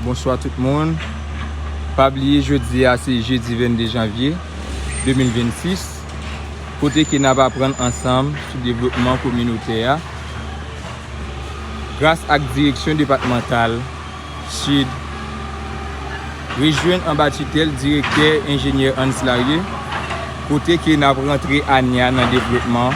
Bonswa tout moun, pa bliye jodi a se jedi 22 janvye 2026 kote ke nap aprann ansanm sou devlopman kominotè a gras ak direksyon depatmantal sid re jwenn anba titèl direktè enjenyè Ansy Larieux kote ke nap rantre ane a nan devlopman.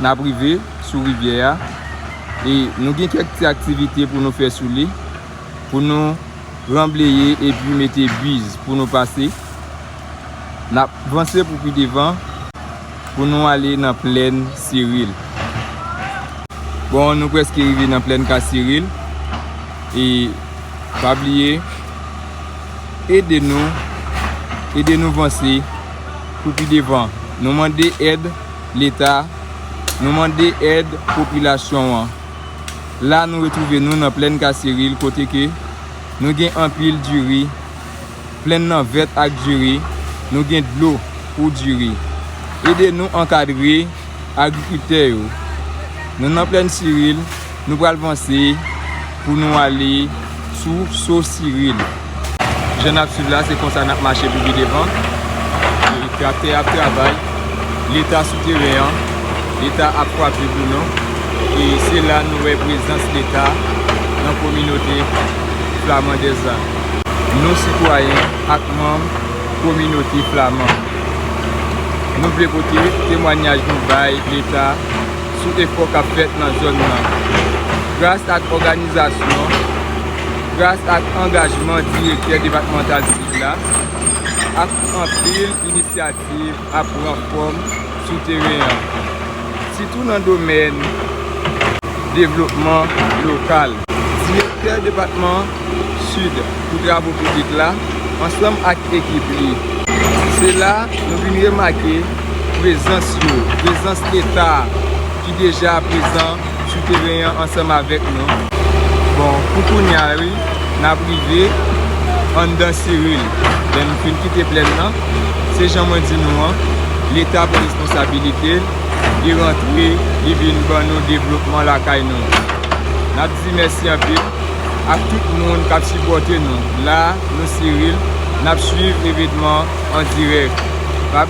nap rive sou rivyè a e nou gen kèk ti aktivite pou nou fè sou li pou nou ranbleye epi mete biz pou nou pase nap vanse pou pi devan pou nou ale nan plèn siril bon nou preske rive nan plèn ka siril e pa bliye ede nou ede nou vanse pou pi devan nou mande ed Leta, nou mande èd popilasyon an. La nou retwouve nou nan plèn Kasiril kote ke nou gen anpil diri, plèn nan vèt ak diri, nou gen dlo pou diri. Ede nou ankadre agrikriptè yo. Nou nan plèn Siril, nou pral vanse. Pou nou ale sou Sosiril. Jan n ap swiv la, se konsa n ap mache pou pi devan. Traktè a ap travay. Leta sou teren an. Leta ap kwape pou nou. E se la nou wè prezans Leta nan kominote flamandèz la. Nou sitwayen ak manm kominote flaman. Nou vle pote temwanyaj nou bay Leta. sou efò k ap fèt nan zòn nan. Gras ak òganizasyon, gras ak angajman Direktè Depatmantal Sid la, ak anpil inisyativ ap pran fòm sou teren an, sitou nan domèn devlopman lokal. Direktè Depatman. Sud pou travo piblik la ansanm ak ekip li. Se la nou vin remake prezans yo, prezans Leta ki deja prezan sou teren an ansanm avèk nou. Bon, pou kounya wi, n ap rive anndan Cyril. Lè nou fin kite plèn nan, se jan mwen di nou an, Leta pran responsabilite l, li rantre, li vin ban nou devlopman lakay nou. N ap di mèsi anpil. ak tout moun kap sipòte nou la nou siril nap swiv evenman an dirèk.